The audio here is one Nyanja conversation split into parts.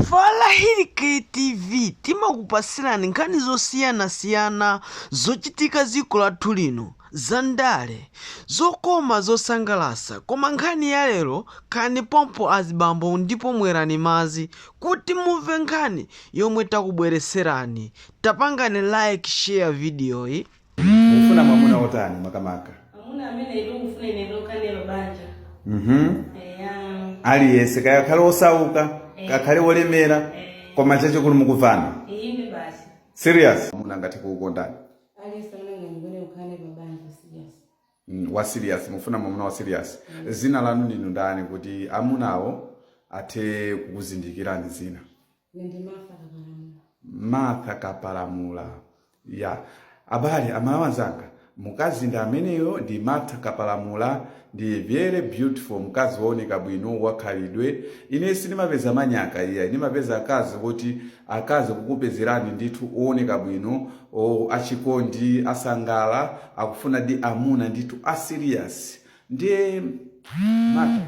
Falahid TV timakupasirani nkhani zosiyana siyana zochitika ziko lathu lino za ndale, zokoma zosangalasa koma nkhani ya lero khalani pompo azibambo ndipo mwerani mazi kuti mumve nkhani yomwe takubwereserani tapangani like share video yi. Mufuna mwamuna wotani makamaka? Mwamuna amene ndikufuna ine ndokhala naye pa banja. Mhm. Eya. Aliyense kaya akhale osauka, Eh. akhale olemera, Eh. koma chachikulu mukumvana. Ine basi. Serious. Mwamuna angathe kukukondani. Aliyense amene angandikonde tikhale pa banja serious. Mm, wa serious mufuna mwamuna wa serious zina lanu ndinu ndani kuti amunawo athe kukuzindikirani zina Ine ndi Martha Kapalamula. martha kapalamula ya abale aMalawi anzanga mkazi ndi ameneyo ndi martha kapalamula ndi very beautiful mkazi wooneka bwino wakhalidwe ine sindimapeza manyaka iya ndimapeza akazi kuti akazi kukupezerani ndithu ooneka bwino achikondi asangala akufuna di amuna ndithu asiriyasi ndiye martha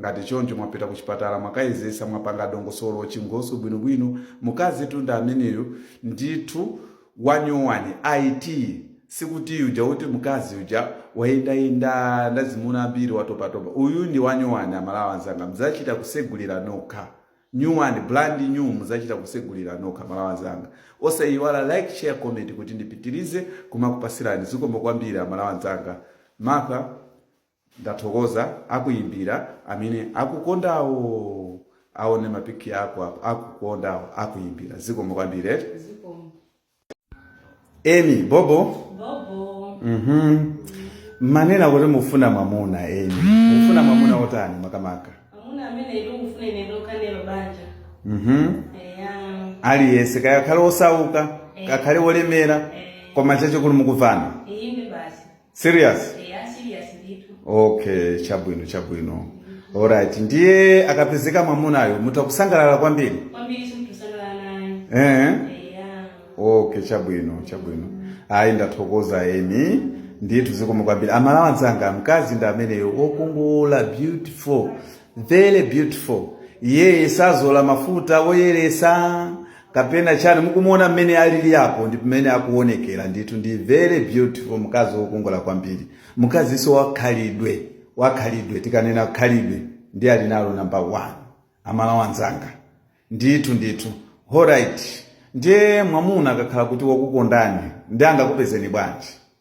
Ngati choncho mwapita kuchipatala mwakayezesa mwapanga dongosolo chinkhoswe bwino bwino mukazitu ndi ameneyo ndithu wanyowani it sikuti ija yoti mkazi uja wayendayenda ndazimuna ambiri watopatopa uyu ndi wanyowani aMalawi anzanga muzachita kusegulira nokha nyuwani brand new muzachita kusegulira nokha aMalawi anzanga osayiwala like share comment kuti ndipitilize kumakupasirani zikomo kwambiri aMalawi anzanga martha Ndathokoza akuimbira amene akukondawo aone ma pic ako apo akukondawo akuimbira zikomo kwambiri eti eh? zikomo Emi bobo bobo mhm mwanena kuti mufuna mamuna Emi mufuna mamuna otani makamaka mamuna amene ndikufuna ine ndokhala naye pa banja mhm aliyense kaya akhale osauka eh. akhale wolemera eh. koma chachikulu mukumvana ine basi serious eya serious ndithu okay chabwino chabwino alright ndiye akapezeka mwamunayo mutha kusangalala kwambiri kwambiri nditha kusangalala naye eh? eya okay chabwino chabwino ayi ndathokoza Emi ndithu zikomo kwambiri aMalawi anzanga mkazi ndi ameneyo okongola beautiful very beautiful iye sazola mafuta oyeresa kapena chani mukumuona mmene alili apo ndi mmene akuonekera ndithu ndi very beautiful mkazi wokongola kwambiri mkaziso wakhalidwe wakhalidwe tikanena khalidwe ndi ali nalo number one aMalawi anzanga ndithu ndithu alright ndiye mwamuna akakhala kuti wakukondani ndi angakupezeni bwanji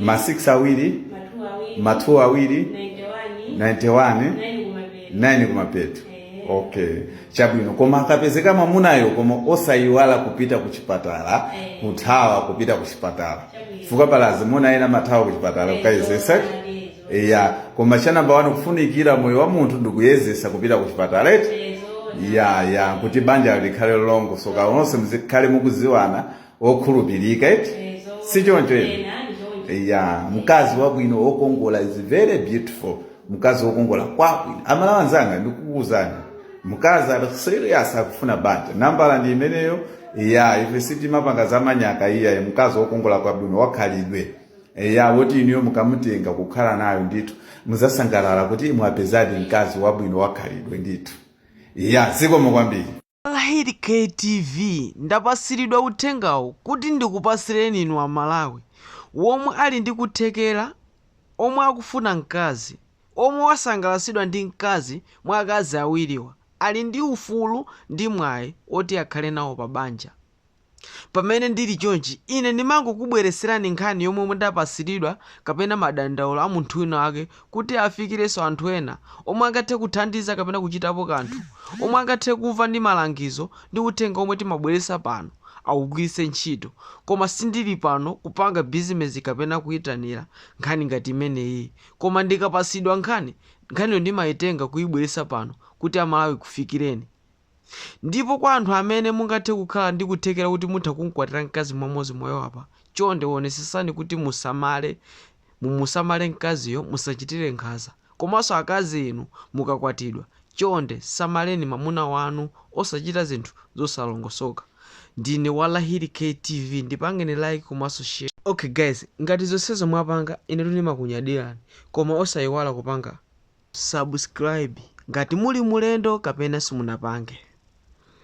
ma 6 awiri ma 2 awiri 91 9 kumapeto okay chabwino koma akapezeka mwamunayo koma osayiwala kupita ku chipatala kuthawa kupita ku chipatala chifukwa pali azimuna ena amathawa ku chipatala kukayezesa ya koma cha nambala wani kufunikira moyo wa munthu ndikuyezesa kupita ku chipatala eti ya ya kuti banja likhale lolongosoka onse muzikhale mukuziwana okhulupirika Eh, zo- si choncho eti ena ndi choncho. ya mkazi wabwino wokongola is very beautiful mkazi wokongola kwabwino a Malawi anzanga ndikukuuzani mkazi ali serious akufuna banja nambala ndi imeneyo ya ife sitimapanga za manyaka iyayi mkazi wokongola kwabwino wakhalidwe ya woti inuyo mukamutenga kukhala naye ndithu muzasangalala kuti mwapezadi mkazi wabwino wakhalidwe ndithu ya zikomo kwambiri Lahiri K TV ndapasiridwa uthengawu kuti ndikupasireni inu a Malawi womwe ali ndi kuthekera, omwe akufuna mkazi, omwe asangalasidwa ndi mkazi mwa akazi awiriwa ali ndi ufulu ndi mwayi oti akhale nawo pa banja. Pamene ndili chonchi, ine ndimangokubwereserani nkhani yomwe ndapasiridwa kapena madandaulo a munthu wina wake kuti afikirenso anthu ena omwe angathe kuthandiza kapena kuchitapo kanthu, omwe angathe kumva ndi malangizo ndi uthenga omwe timabweresa pano awugwiritse ntchito, koma sindili pano kupanga bizinezi kapena kuyitanira nkhani ngati imeneyi koma ndikapasidwa nkhani, nkhaniyo ndimayitenga kuyibweresa pano kuti a Malawi ikufikireni. Ndipo kwa anthu amene mungathe kukhala ndi kuthekera kuti mutha kumkwatira mkazi mmodzi mwa awowa apa, chonde wonesesani kuti musamale, mumusamale mkaziyo, musachitire nkhaza. Komanso akazi inu mukakwatidwa, chonde samaleni mamuna wanu osachita zinthu zosalongosoka. Ndine wa Lahiri K TV ndipangeni like komanso share. Ok guys ngati zonsezo mwapanga inetu ndimakunyadirani koma osayiwala kupanga. subscribe ngati muli mulendo kapena simunapange.